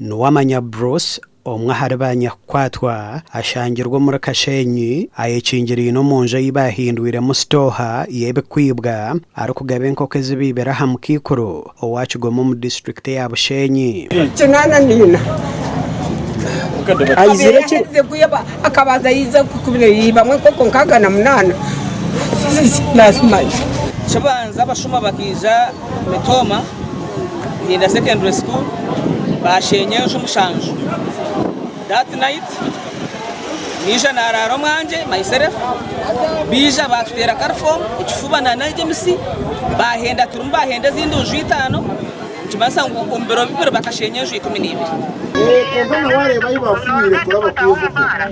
Nuwamanya Bruce omwe ahari ba nyakukwatwa ashangirwe omuri Kasheenyi ayekingiriine omu nju ei baahindwiremu sitooha y'ebikwibwa arikugaba enkoko ezibaibire aha mukaikuru owa Kigoma omu disiturikiti ya Busheenyi. Mitooma Nyinda Secondary School baasheenya enju mushanju. That night naija naaraara omwangye, myself, baija baatuteera kalifoomu, ekifuba na n'egemisi baahenda turimu baahenda ezindi nju itaano nikimanyisa ngu omu biro bibiri bakasheenya enju ikumi na ibiri.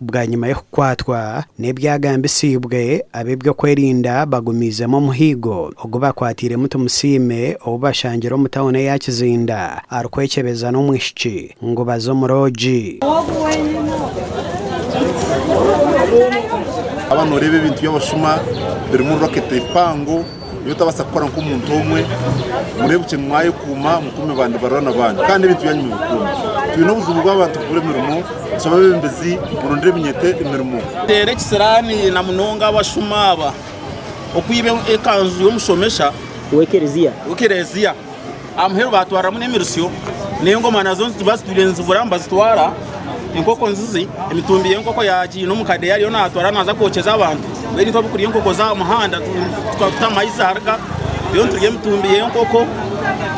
Bwanyima y'okukwatwa n'ebyagambisiibwe, ab'ebyokwerinda bagumiizemu omuhigo ogu bakwatiiremu Tumusiime ou bashangire omu tauni eya Kizinda arikwekyebeza n'omwishiki ngu baze omu roogi. Haba noreeba ebintu byabashuma birimu rocket mpango. Nyowe otabaasa kukora nk'omuntu omwe, mureebukye ngu mwayekuuma mukuume ba nibarwana baanyu kandi n'ebintu byanyu mubikuume. Twine obuzibu bw'abantu kubura emirimo, nshabe abeebembezi murondere ebinyete emirimo. Teera ekisiraani na munonga abashuma aba okwiba ekanju y'omushomesha w'ekerezia. Amuheru baatwariramu n'emirisyo, n'engoma nazo bazitwire nizibura nibazitwara, enkoko nzizi, emitumbi y'enkoko yaagiine omu kadeeya ariyo naatwara naaza kwokyeza abantu. Mbwenu itwe ab'okurya enkoko z'aha muhanda tuta amaizi ahari ka, reero niturya emitumbi y'enkoko,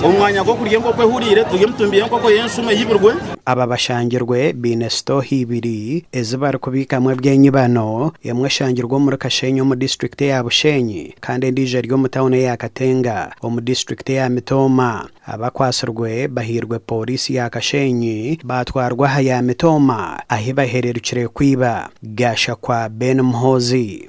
omu mwanya gw'okurya enkoko ehuriire turya emitumbi y'enkoko y'enshuma eyibirwe. Aba bashangirwe baine sitooha ibiri ezi barikubiikamu eby'enyibano, emwe eshangirwe omuri Kasheenyi omu disiturikiti ya Bushenyi kandi endiijo eri omu tauni eya Katenga omu disiturikiti eya Mitooma. Abakwatsirwe bahairwe pooriisi ya Kasheenyi baatwarwa aha ya Mitooma ahi bahererukire kwiba. Gashakwa Ben Muhoozi.